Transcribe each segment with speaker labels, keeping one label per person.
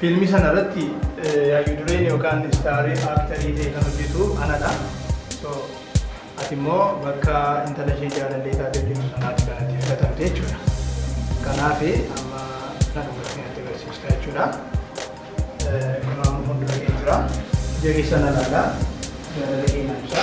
Speaker 1: Fiilmii sana irratti hayyu dureen yookaan istaarii aaktarii ta'e kan hojjetu anadha. So ati immoo bakka intala ishee jaalallee taatee hojjetu sanaatti kan ati filatamte jechuudha. Kanaaf amma kana dubartiin ati barsiifta jechuudha. Kun amma fuuldura kee jira. Ija keessa na laala. Jaalala kee na ibsa.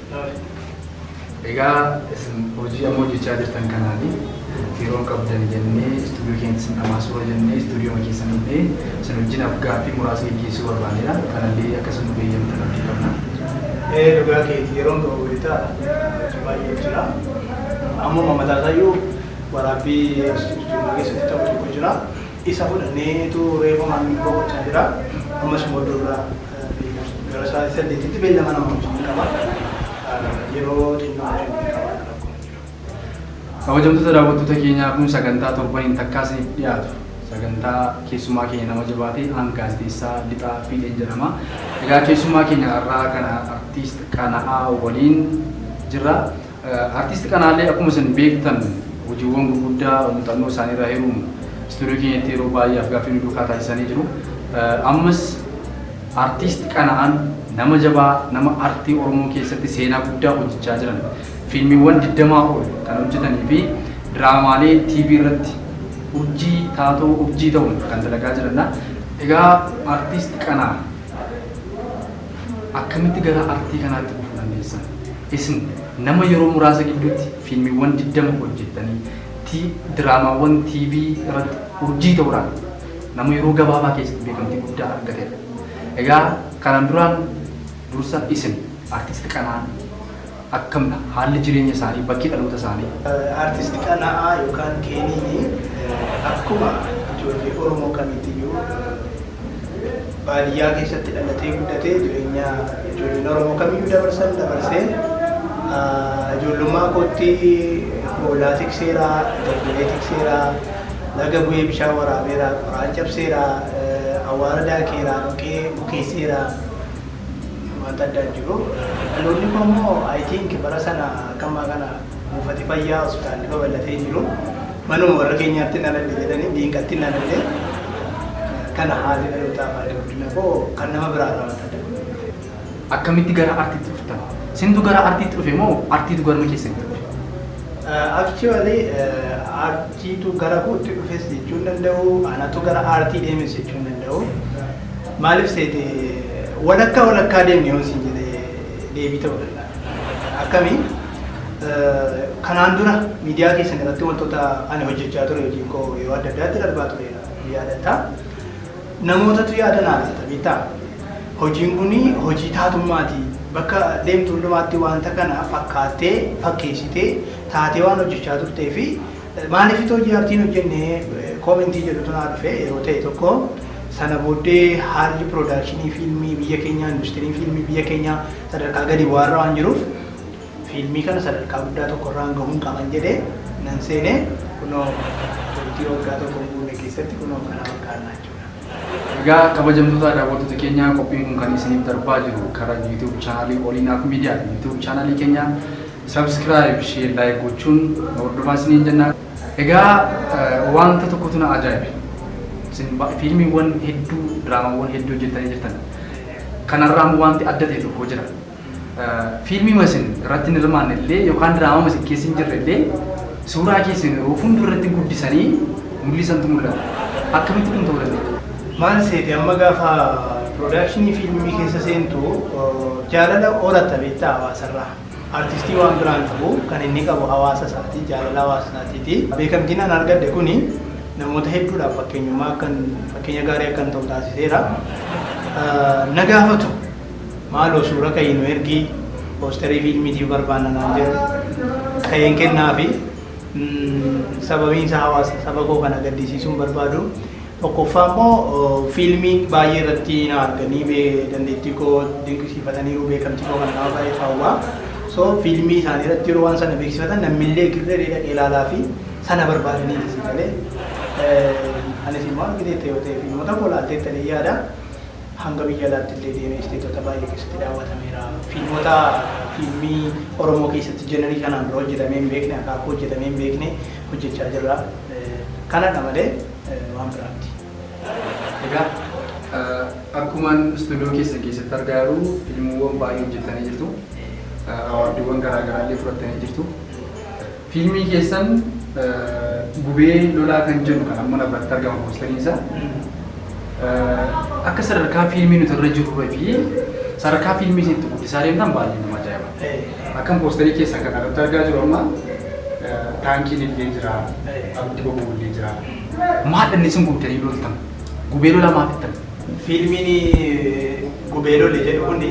Speaker 2: Egaa isin hojii amma hojjechaa jirtan kanaani yeroon qabdan jennee istuudiyoo keenyatti isin dhamaasuura jennee istuudiyooma keessan dhufnee isin wajjin af-gaaffii muraasa geggeessuu barbaanneedha. Kanallee akka isin nuuf eeyyamtan abdii qabna. Ee dhugaa
Speaker 1: keeti yeroon qaba wayita hojii baay'een jira. Ammuma mataa isaayyuu waraabbii istuudiyooma keessatti ta'u tokko jira. Isa fudhanneetu reefumaan boqochaa jira. Ammas immoo iddoo biraa. Gara sa'aatii saddeetitti beellama nama wajjin qaba. Yeroo xinnoo kennee qaba akka
Speaker 2: rakkoon hin jiru. Kabajamtoota daawwattoota keenyaa kun sagantaa torbaniin takkaa isiniif dhiyaatu sagantaa keessumaa keenya nama jabaa ta'e aan gaazexeessaa Lixaa Fiixeen jedhama. Egaa keessumaa keenya har'aa kana artiist Qana'aa waliin jirra. Artisti Qanaalee akkuma isin beektan hojiiwwan gurguddaa muuxannoo isaaniirraa hiruun istuudiyoo keenyatti yeroo baay'ee afgaaffii nu duukaa taasisanii jiru. Ammas Artisti Qana'aan nama jabaa, nama artii Oromoo keessatti seenaa guddaa hojjechaa jiran, fiilmiiwwan 20 ol kan hojjetanii fi diraamaalee TV irratti urjii, taatoo urjii ta'uun kan dalagaa jirandha. Egaa Artisti Qanaa. Akkamitti gara artii kanaatti dhufuu dandeessan? Isin nama yeroo muraasa gidduutti fiilmiiwwan 20 hojjettanii, ti diraamaawwan TV irratti urjii ta'uudhaan nama yeroo gabaabaa keessatti beekamtii guddaa argatedha. Egaa kanaan duraan dursa isin Artisti Qanaan. Akkam dha haalli jireenya isaanii? Bakki dhaloota isaanii? Artist Qana'aa
Speaker 1: yookaan Keeniin akkuma ijoollee Oromoo kamiitiyyuu baadiyyaa keessatti dhalatee guddate. Jireenya ijoolleen Oromoo kamiyyuu dabarsan dabarsee ijoollummaa kootti hoolaa tikseera, jabbilee tikseera, laga bu'ee bishaan waraabeera, qoraan cabseera, awwaara daakeera, dhoqqee bukeesseera. Wanta addaa hin jiru. Dhaloonni koo immoo I think bara sana akka ammaa kana buufati fayyaa, hospitaalli babal'atee hin jiru. Manuma warra keenyaattin dhaladhe jedhanii diinqattin dhaladhe. Kana haalli dhalootaa fi haalli guddina koo kan nama biraa irraa wanta adda godhu miti. Akkamitti
Speaker 2: gara artiitti dhuftan? Isintu gara artiitti dhufe moo artiitu garuma keessanitti dhufe?
Speaker 1: Actually artiitu gara kootti dhufes jechuu hin danda'u, anatu gara aartii deemes jechuu hin danda'u. Maaliif seete walakkaa walakkaa deemne yoon siin jedhe deebii ta'uu danda'a. Akkami? Kanaan dura miidiyaa keessan irratti wantoota ani hojjechaa ture hojiin koo yeroo adda addaatti darbaa tureera ni yaadatta. Namootatu yaada naa laata beektaa? Hojiin kun hojii taatummaati. Bakka deemtu hundumaatti wanta kana fakkaattee fakkeessitee taatee waan hojjechaa turtee fi Maaliif hojii aartii hin hojjenne koomentii jedhutu naa dhufe yeroo ta'e tokko. Sana booddee haalli piroodakshinii fiilmii biyya keenyaa, industiriin fiilmii biyya keenyaa sadarkaa gadi bu'aarra waan jiruuf fiilmii kana sadarkaa guddaa tokkorraan gahuun qaban jedhee nan seene. Kunoo turtii waggaa tokko hin guunne keessatti kunoo kana fakkaanna jechuudha. Egaa
Speaker 2: kabajamtoota daawwattoota keenyaa qophiin kun kan isiniif darbaa jiru karaa YouTube channel Olinaaf Media ti. YouTube channel keenya Subscribe, share, like gochuun nu hordofaa isiniin jenna. Egaa wanta tokkotu na ajaa'ibe. Isin ba- fiilmiiwwan hedduu, diraamawwan hedduu hojjettanii jirtan. Kanarraa immoo wanti adda ta'e tokko jira. Eh, Fiilmiima isin irratti hin hirmaanne illee yookaan diraamama isin keessa hin jirre illee suuraa keessan yeroo fuuldura irratti guddisanii mul'isantu mul'ata. Akkamitti kun ta'uu danda'a? Maal seete amma
Speaker 1: gaafa piroodakshinii fiilmii keessa seentu eh, jaalala horatta beektaa hawaasarraa. Artistii waan biraa hin qabu. Kan inni qabu hawaasa isaati. Jaalala hawaasa isaatiiti. Beekamtiin an argadhe kun namoota hedduudhaaf fakkeenyummaa akkan fakkeenya gaarii akkan ta'u taasiseera. Na gaafatu. Maaloo suura ka'ii nu ergi, poosterii fiilmiitiif barbaanna naan jedhu. Ka'een kennaafi. Sababiin isaa hawaasa saba koo kana gaddisiisuu hin barbaadu. Tokkoffaa immoo fiilmii baay'ee irratti na arganii bee dandeettii koo dinqisiifataniiru beekamtii koo kana nama baay'eetu hawwaa. So fiilmii isaanii irratti yeroo waan sana beeksifatan nammillee girree dhaqee ilaalaa fi sana barbaadanii ni si galee. Eh, Anis immoo argiteetta yoo ta'e fiilmota koo laalteetta jedhee yaada. Hanga biyya alaatti illee deemee isteetota baay'ee keessatti daawwatameera. Fiilmota fiilmii Oromoo keessatti jenerii kanaan dura hojjetamee hin beekne akaakuu hojjetamee hin beekne hojjechaa jirra. Eh, Kanadha malee. waan
Speaker 2: biraa miti. Egaa akkuman istuudiyoo keessan keessatti argaa jiru fiilmiiwwan baay'ee hojjettanii jirtu. Awaardiiwwan garaa garaa illee fudhattanii jirtu. Fiilmii keessan gubee lolaa kan jedhu kan amma na biratti argama poosteriin isaa. Akka sadarkaa fiilmii nuti irra jirruu fi sadarkaa fiilmii isin itti guddisaa deemtan baay'ee nama ajaa'iba. Akkan poosterii keessan kana irratti argaa jiru amma taankiin illee jira, abiddi boba'u illee jira. Maadha inni isin gubdanii loltan? Gubee lolaa maa fixxan? Fiilmiin
Speaker 1: Gubee Lole jedhu kun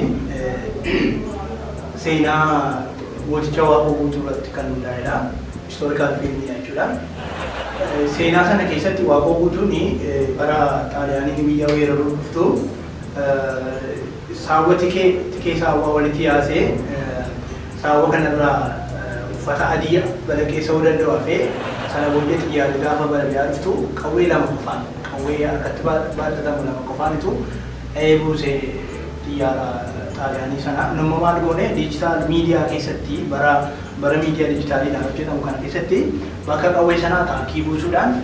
Speaker 1: seenaa Mooticha Waaqoo Guutuu irratti kan hundaa'edha. Historical film dha jechuudha. Seenaa sana keessatti Waaqoo Guutuun bara Xaaliyaaniin biyya weeraruuf dhuftu Saawwa tikee, tikee saawwaa walitti yaasee saawwa kana irraa uffata adii balaqee sa'uu danda'u hafee sana booddee xiyyaarri gaafa balali'aa dhuftu qawwee lama qofaan qawwee harkatti baattatamu lama qofaanitu dha'ee buuse xiyyaara Xaaliyaanii sana. Nu immoo maal goone diijitaal miidiyaa keessatti bara bara miidiyaa diijitaaliidhaan hojjetamu kana keessatti bakka qawwee sanaa taankii buusuudhaan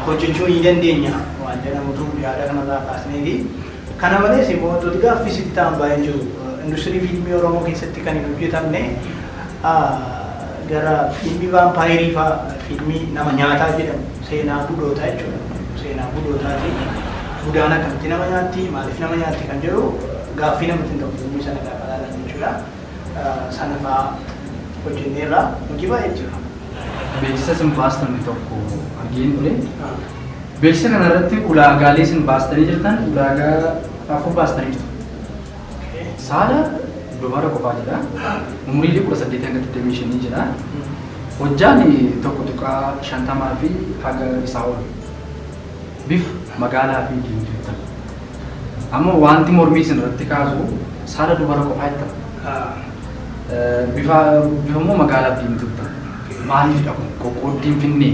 Speaker 1: hojjechuu ni dandeenya waan jedhamutu yaada kanarraa kaasneeti. Kana malees immoo wantooti gaaffii sitti ta'an baay'een jiru. Industirii fiilmii Oromoo keessatti kan hin hojjetamne gara fiilmii vaampaayerii fa'aa, fiilmii nama nyaataa jedhamu, seenaa budootaa jechuudha. Seenaa budootaati. Budaan akkamitti nama nyaatti, maaliif nama nyaatti kan jedhu gaaffii namatti hin ta'u fiilmii sana gaafa ilaalan jechuudha. Sana fa'aa hojjenneerra. Hojii baay'eetu jira. Beeksisa isin
Speaker 2: baastan tokko argeen ture. Beeksisa kana irratti ulaagaalee isin baastanii jirtan ulaagaa afur baastanii jirtu. Saala dubara qofaa jira. Umriilee 18-25 jira. Hojjaan 1.50 fi haga isaa ol. Bif magaalaa fi diimtuu jettan. Amma wanti mormii isin irratti kaasu saala dubara qofaa jettan. Bifa immoo magaalaa fi diimtuu jettan. Maaliifidha kun qoqqooddiin finnee?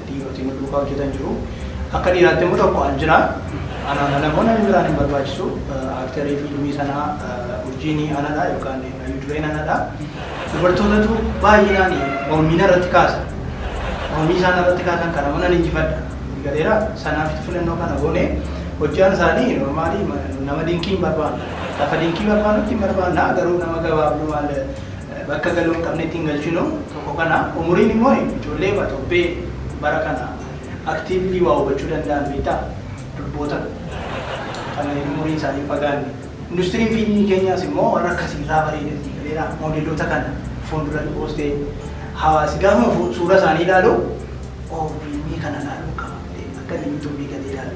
Speaker 1: Dhiiroti nu duukaa hojjetan jiru. Akka dhiiraatti immoo tokko an jira. Anaan ala immoo namni biraan hin barbaachisu. Aaktarii fiilmii sanaa urjiin anadha yookaan hayyuu dureen anadha. Dubartootatu baay'inaan mormii narratti kaasa. Mormii isaan narratti kaasan kana immoo nan injifadha. Galeera sanaafis filannoo kana goone hojjaan isaanii normaalii nama dinqii hin barbaannu. Lafa dinqii barbaannutti hin barbaanna garuu nama gabaabduu maal bakka galuu hin qabnetti hin galchinu. Tokko kana. Umuriin immoo ijoolleema torbee bara kana actively waa hubachuu danda'an beektaa? Durboota kan umuriin isaanii hin fagaanne. Industiriin fiilmii keenyaas immoo warra akkasii irraa bareeda sii galeera. Moodeloota kana fuulduratti poostee hawaasi gaafuma suuraa isaanii ilaalu oo fiilmii kana ilaaluun qaba jedhee akka inni YouTube gatee ilaalu.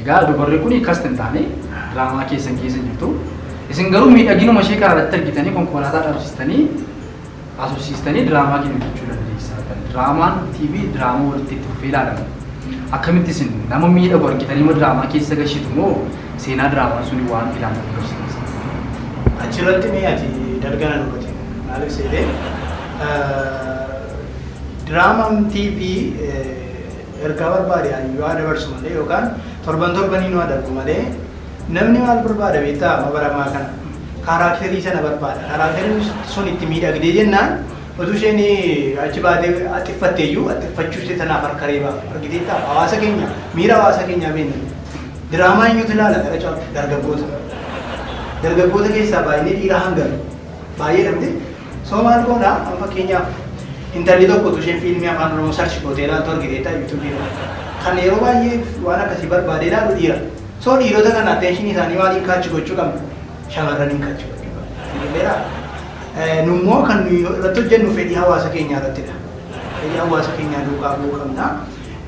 Speaker 2: Egaa dubarri kun kast hin taane diraamaa keessan keessa hin jirtu. Isin garuu miidhaginuma ishee karaarratti argitanii konkolaataa dhabsistanii asofsiistanii diraamaa keenya hojjechuu dandeessaa kan diraamaan TV diraamaa walitti itti fufee ilaalama. Akkamitti isin nama miidhagu argitanii ma diraamaa keessa gashitu moo seenaa diraamaa suni waan ilaalamu agarsiisa. Achirratti
Speaker 1: mee ati dalgana nu bati maaliif seetee diraamaan TV Ergaa barbaade hayyuu haa dabarsu malee yookaan torban torbanii nu adabbu malee namni maal barbaada beektaa amma bara ammaa kana kaaraakterii sana barbaada kaaraakteriin sun itti miidhagdee jennaan utuu isheen achi baatee axiffatte iyyuu axxiffachuu ishee sanaaf harka reebaa argiteettaa hawaasa keenya miira hawaasa keenyaa beekna diraamaa eenyutu ilaala gara caalu dargaggoota dargaggoota keessaa baay'inni dhiiraa hangami baay'eedha miti So maal goona amma fakkeenyaaf intalli tokko utuu isheen fiilmii afaan oromoo sarchi gootee ilaaltu argiteetta yuutuubii irratti. Kan yeroo baay'ee waan akkasii barbaadee ilaalu dhiira. So dhiirota kana atteenshinii isaanii maaliin kaachi gochuu qabna? Shamarraniin kaachi gochuu qabna. Sigileera. Nu immoo kan nuyi irratti hojjennu fedhii hawaasa keenyaa irrattidha. Fedhii hawaasa keenyaa duukaa bu'uu qabna.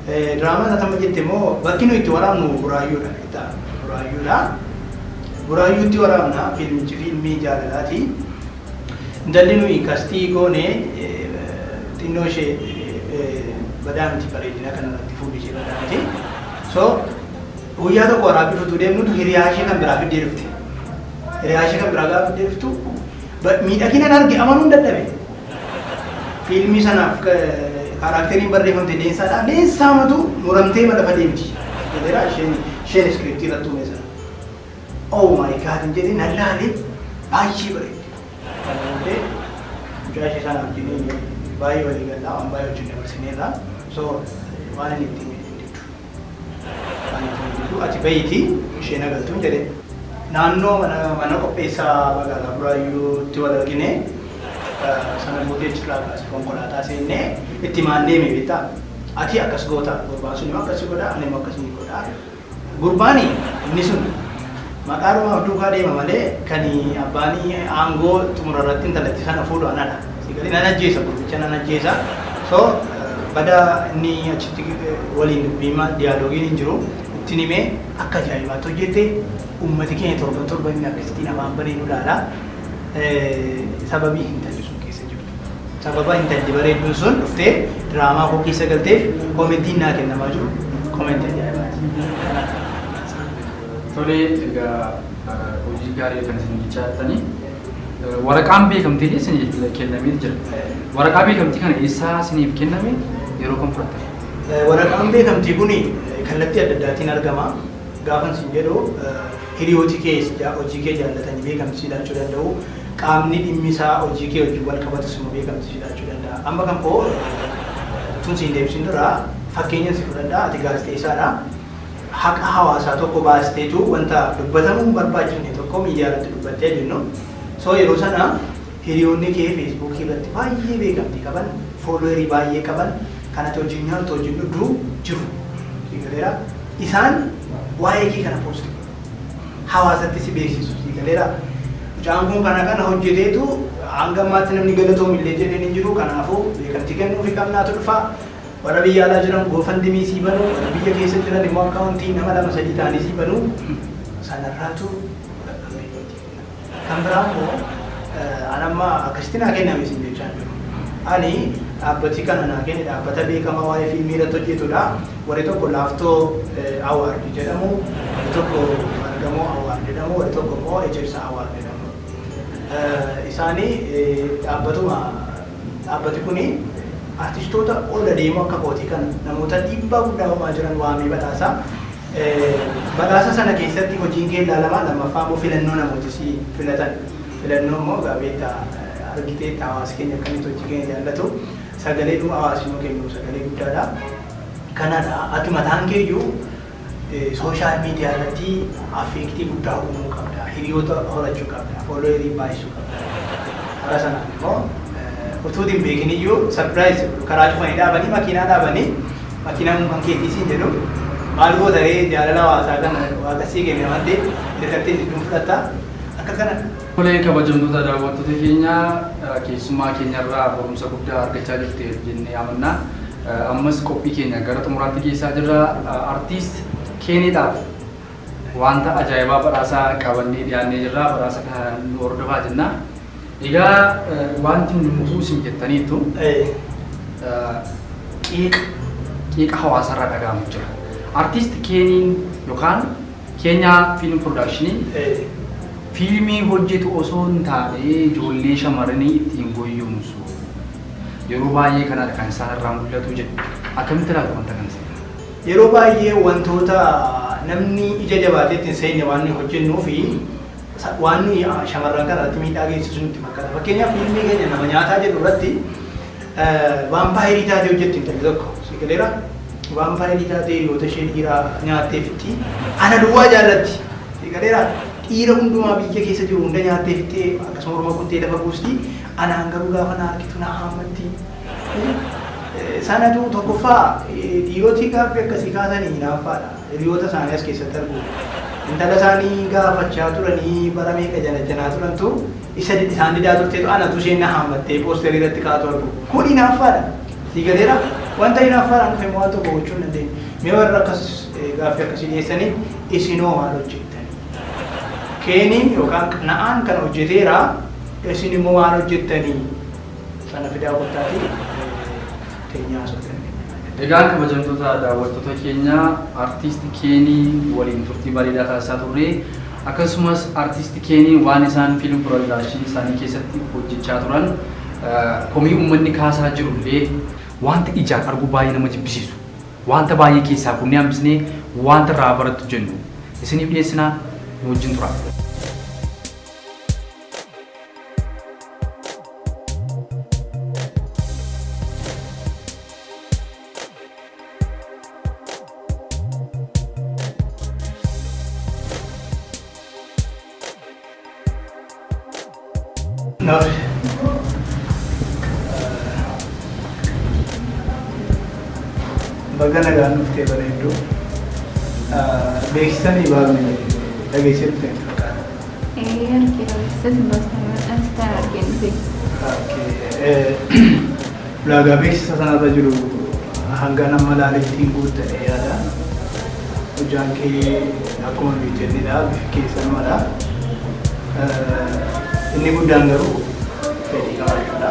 Speaker 1: Diraamaa irratti amma jette immoo bakki nuyi itti waraabnu buraayyuudha. Beektaa? Buraayyuudha. Buraayyuutti waraabna fiilmichi fiilmii jaalalaati. Intalli nuyi kastii goone xinnoo ishee badaa miti bareedina kana irratti fuulli ishee badaa miti. So guyyaa tokko waraabbii futuu deemnutu hiriyaa ishee kan biraa fiddee dhufte. Hiriyaa ishee kan biraa gaafa fiddee dhuftu miidhaginan arge amanuun dadhabe. Fiilmii sanaaf kaaraakteriin barreeffamte leensaadha. Leensaa matu muramtee ma lafa deemti. Jedheera isheen isheen iskiriiptii irratti uume sana. Oh my God jedhe nan laale baay'ee bareeddi. Kana booddee mucaa ishee sana wajjin baay'ee walii gallaa waan baay'ee wajjin dabarsineerra. So waan inni ittiin jedhe hin diddu. Waan ittiin hin diddu ati bahiiti isheen haa galtuun jedhe. Naannoo mana qopheessaa magaalaa Buraayyuutti wal argine. Sana booddee achirraa kaasee konkolaataa seennee itti himaan deeme beektaa. Ati akkas goota gurbaan sun immoo akkas si godha ani immoo akkas niin godha. Gurbaani inni sun maqaadhuma of duukaa deema malee kan abbaanii aangoo xumura irratti intalattii kana fuudhu anadha. Si galee nan ajjeesa gurbicha nan ajjeesa. So bada inni achitti waliin dubbiima diyaaloogiin hin jiru ittin himee akka ajaa'ibaatti hojjette ummati keenya torban torban inni akkasitiin afaan banee nu laala sababii hin tayu sun keessatti. Sababa intalli bareedduun sun dhuftee diraamaa koo keessa galteef komentiin naa kennamaa jiru komentii ajaa'ibaati.
Speaker 2: Tole egaa hojii gaarii kan isin jechaa jirtani. Waraqaan beekamtii illee isiniif kennamee jira. Waraqaa beekamtii kana eessaa isiniif kenname yeroo kam fudhattan? Waraqaan
Speaker 1: beekamtii kun kallattii adda addaatiin argama. Gaafan isin jedhu Hiriyooti kee sija hojii kee jaallatani beekamti sii laachuu danda'u. Qaamni dhimmi isaa hojii kee wajjin wal qabatu simo beekamti sii laachuu danda'a. Amma kan koo utuun si hin deebisin dura fakkeenyan si fudhadha. Ati gaazexeessaa dha. Haqa hawaasaa tokko baasteetu wanta dubbatamu hin barbaachifne tokko miidiyaa irratti dubbatte haa jennu. So yeroo sana. Hiriyoonni kee Facebook irratti baay'ee beekamtii qaban, followeri baay'ee qaban, kan ati wajjin nyaattu, wajjin dhugdu jiru. Siif galeeraa? Isaan waa'ee kee kana post godhu. Hawaasatti si beeksisu. Siif galeeraa? Mucaan kun kana kana hojjeteetu hanga ammaatti namni galatoomi illee jedheen hin jiru. Kanaafuu beekamtii kennuufi qabnaatu dhufa. Warra biyya alaa jiran GoFundMe sii banu, warri biyya keessa jiran immoo akkaawuntii nama lama sadii ta'anii sii banu. Sanarraatu fudhadhu hiriyoota kee. Kan biraa immoo an amma akkasitti naa kenname isin jechaa hin jiru. Ani dhaabbati kana naa kenne dhaabbata beekamaa waa'ee fiilmii irratti hojjetudha. Warri tokko Laaftoo Award jedhamu, warri tokko Margamoo Award jedhamu, warri tokko immoo Ejersa Award jedhamu. Isaani dhaabbatuma dhaabbati kuni artistoota ol adeemoo akka kootii kana namoota dhiibbaa guddaa uumaa jiran waamee badhaasa. Badhaasa sana keessatti hojiin kee ilaalamaa, lammaffaa immoo filannoo namooti si filatan, filannoo immoo egaa beekta argiteetta hawaasi keenya akkamitti hojii keenya jaallatu, sagalee nuu hawaasi nuu kennu sagalee guddaadha. Kanadha ati mataan keeyyuu sooshaal miidiyaa irratti affeektii guddaa uumuu qabda, hiriyoota horachuu qabda, foolooyerii baay'isuu qabda. Karaa sanaan immoo utuu ati hin beekiniyyuu sarpiraayizi si godhu, karaa cufanii dhaabanii makiinaa dhaabanii, Makiinaan kan keetii siin jedhu maal goota ree jaalala hawaasaa kana waaqa sii kenne waan ta'eef dirqattiin jidduun fudhatta akka kana. Tole
Speaker 2: kabajamtoota daawwattoota keenya keessummaa keenyarraa barumsa guddaa argachaa jirteef jennee amanna. Ammas qophii keenya gara xumuraatti geessaa jirra. Artiist Keenidhaaf Wanta ajaa'ibaa badhaasa qabannee dhiyaannee jirra badhaasa kana nu hordofaa jenna. Egaa wanti hundumtuu isin jettaniittu qeeqa qeeqa hawaasarraa dhaga'amu jira. Artiist Keeniin yookaan Keenyaa Fiilm Piroodaakshiniin fiilmii hojjetu osoo hin taane ijoollee shamarranii ittiin goyyomsu. Yeroo baay'ee kanadha kan isaanirraa mul'atu jedhu. Akkamitti ilaaltu wanta kana isin? Yeroo baay'ee
Speaker 1: wantoota namni ija jabaatee itti hin seenne waan nuyi hojjennuuf waan nuyi shamarran kana irratti miidhaa geessisu nutti fakkaata. Fakkeenyaaf fiilmii keenya nama nyaataa jedhu irratti vaampaayirii taatee hojjetti intalli tokko si galeera. Vaampaayirii taatee hiriyoota ishee dhiiraa nyaattee fixxi. Ana duwwaa jaallatti si galeera. Dhiira hundumaa biyya keessa jiru hunda nyaattee fixxee akkasuma morma kuttee lafa buusti. Anaan garuu gaafa na argitu na haammatti. Sanatu tokkoffaa dhiirotii gaaffii akkasii kaasanii hinaaffaadha. Hiriyoota isaanii as keessatti arguu. Intala isaanii gaafachaa turanii bara meeqa janajjanaa turantu isa isaan didaa turteetu anatu isheen na haammattee poosterii irratti kaatu argu. Kun hinaaffaadha. Sii galeera? Wanta hinaaffaadhaan dhufe immoo waan tokko gochuu hin dandeenyu. Mee warra akkas gaaffii akkasii dhiyeessanii isinoo maal hojjettanii? Keeniin yookaan qana'aan kana hojjeteera isin immoo maal hojjettanii? Fana fidaa kottaatii teenyaa haasofnee. Egaa kabajamtoota
Speaker 2: daawwattoota keenya Artist Keenii waliin turtii bareedaa taasisaa turre. Akkasumas Artist Keeniin waan isaan Film Production isaanii keessatti hojjechaa turan komii uummanni kaasaa jiru illee, waanta ijaan arguu baay'ee nama jibbisiisu, waanta baay'ee keessaa fuunee hambisnee waanta irraa haa barattu jennu isiniif dhiyeessina nu wajjin turaa.
Speaker 1: Baga nagaan dhuftee bareedduu. Beeksisanii baafne dhageessee dhufte. Ee argeera beeksisa sin baasteeman Instagram argeen dhufe. Ulaagaa beeksisa sanarra jiru hanga nama laalittiin guuttadhe yaada. Hojjaan kee akkuma nuyi jennedha bifi kee sanumadha. Inni guddaan garuu fedhii qabaachuudha.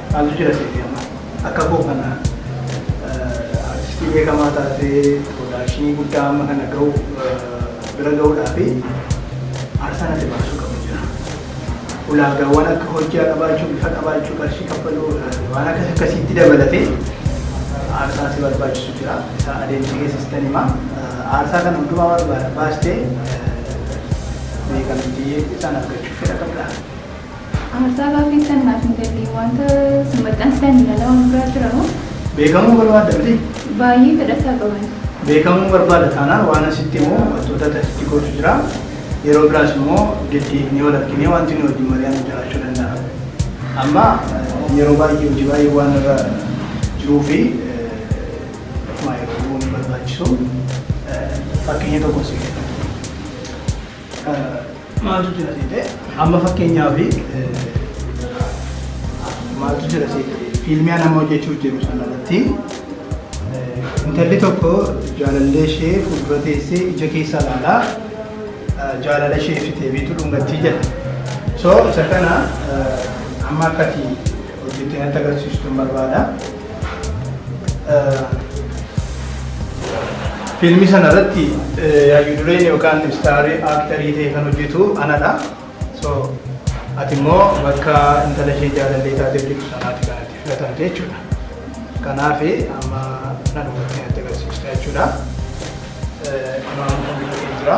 Speaker 1: Maaltu jira seetii amma akka koo kana artistii beekamaa taatee piroodakshinii guddaa amma kana ga'u bira ga'uudhaa fi aarsaan ati baasuu qabu jira. Ulaagaawwan akka hojjaa qabaachuu, bifa qabaachuu, qarshii kaffaluu waan akkas akkasiitti dabalatee aarsaa si barbaachisu jira. Isa adeemsa keessa sitan hima. Aarsaa kana hundumaa barbaada baastee beekamtii isaan argachuuf fedha qabdaa. Aarsaa
Speaker 3: baafeettan naaf hin galle. Wanta isin maxxansitan ilaalaa waan biraa jira moo? Beekamuu barbaadda
Speaker 1: mitii? Baay'ee fedha isaa
Speaker 3: qaban. Beekamuu barbaada
Speaker 1: taanaan waanan sitti himu wantoota ati asitti gootu jira. Yeroo biraas immoo deddeebinee wal arginee wanti nuyi wajjin mari'annu jiraachuu danda'a. Amma yeroo baay'ee hojii baay'ee waan irra jiruu fi ofumaa yeroo gubuu hin barbaachisu. Fakkeenya tokkon sii kenna. Maaltu jira seete? Amma fakkeenyaaf maaltu jira seete? Fiilmii an amma hojjechuuf jiru sana irratti intalli tokko jaalallee ishee fuuldura teessee ija keessa ilaalaa jaalala ishee ibsitee biitu dhungattii jedha. So isa kana amma akkati Hojjetee natti agarsiistuun barbaada. Fiilmii sana irratti hayyuu dureen yookaan istaarii aaktarii ta'e kan hojjetu anadha. So ati immoo bakka intala ishee jaalallee taatee hojjetu sanaati kan ati filatamte jechuudha. Kanaaf amma na dhufattee natti agarsiista jechuudha. Kunoo amma kompiitarri jira.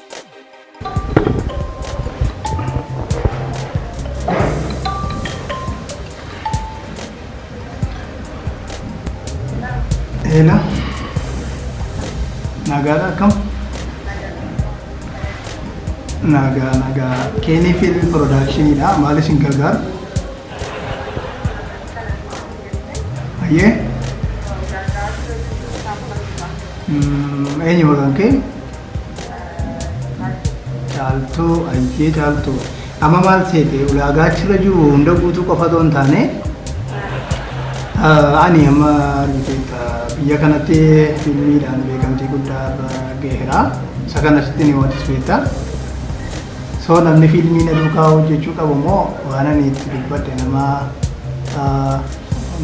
Speaker 1: Eela. Nagaadha akkam? Nagaa nagaa. Keenii fiilmi piroodaakshiniidha. Maal isin gargaara? Ayyee. Eenyu maqaan kee? Caaltuu ayyee caaltuu. Amma maal seete ulaagaa achirra jiru hunda guutuu qofa otoo hin taane ani amma argiteetta biyya kanatti fiilmiidhaan beekamtii guddaa irra gaheera. Isa kanas itti ni waantis beektaa. So namni fiilmii na duukaa hojjechuu qabu immoo waan ani itti dubbadhe nama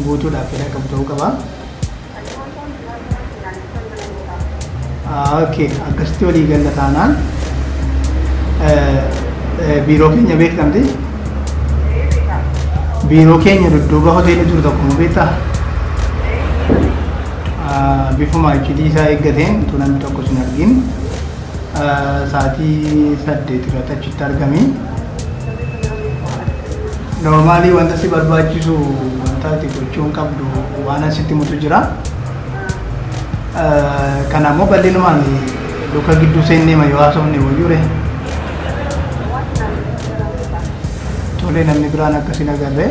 Speaker 1: guutuudhaaf fedha qabu ta'uu qaba. Okay, akkasitti walii galla taanaan biiroo keenya beektamti. Biiroo keenya dudduuba hoteela jiru tokko nu beektaa? Bifuma iccitii isaa eeggateen utuu namni tokko sin argin Sa'aatii saddeet irratti achitti argami. Noormaalii wanta si barbaachisu wanta ati gochuun qabdu waan asitti mutu jira. Kana immoo bal'inumaan luka gidduu seennee ma yoo haasofne wayyuure. Tolee namni biraan akkasiin agarree.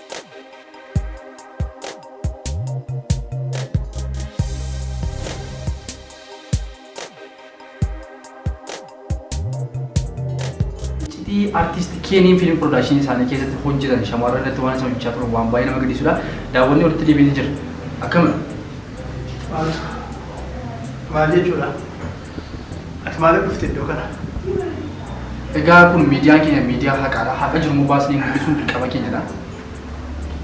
Speaker 2: Iccitii artiist Keeniin fiilm piroodakshinii isaanii keessatti hojjetan shamarran irratti waan isaan hojjechaa turan waan baay'ee nama gaddisiisudha. Daawwannee walitti deebiinee jirra. Akkamidha?
Speaker 1: Maal jechuudha? Ati maaliif dhufte iddoo kana?
Speaker 2: Egaa kun miidiyaan keenya miidiyaa haqaadha. Haqa jiru immoo baasnee mul'isuun dirqama keenyadha.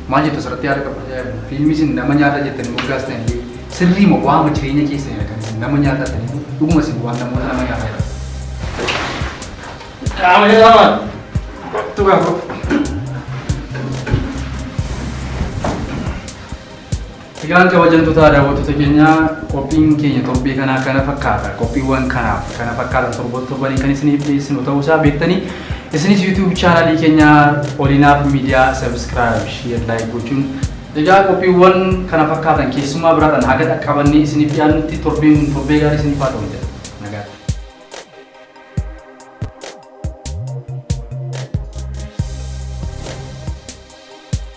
Speaker 2: Maal jettu asirratti yaada qabdu? Fiilmii isin nama nyaata jettanii moggaastan illee sirrii moo waama jireenya keessanidha kan isin nama nyaata jettanii moo dhuguma isin waan namoota nama nyaata jedha. Qaama jalaa maal? Kottu gaa kottu. Egaan kabajamtotaa daawwattoota keenyaa qophiin keenya torbee kanaa kana fakkaata. Qophiiwwan kanaaf kana fakkaatan torban torbaniin kan isiniif dhiyeessinu ta'uu isaa beektanii isinis YouTube chaanaalii keenya Olinaaf Miidiyaa Subscribe, Share, Like gochuun Egaa qophiiwwan kana fakkaatan keessummaa biraadhaan haga dhaqqabannee isiniif dhiyaannutti torbeen kun torbee gaarii isiniif haa ta'u jedha. Nagaatti.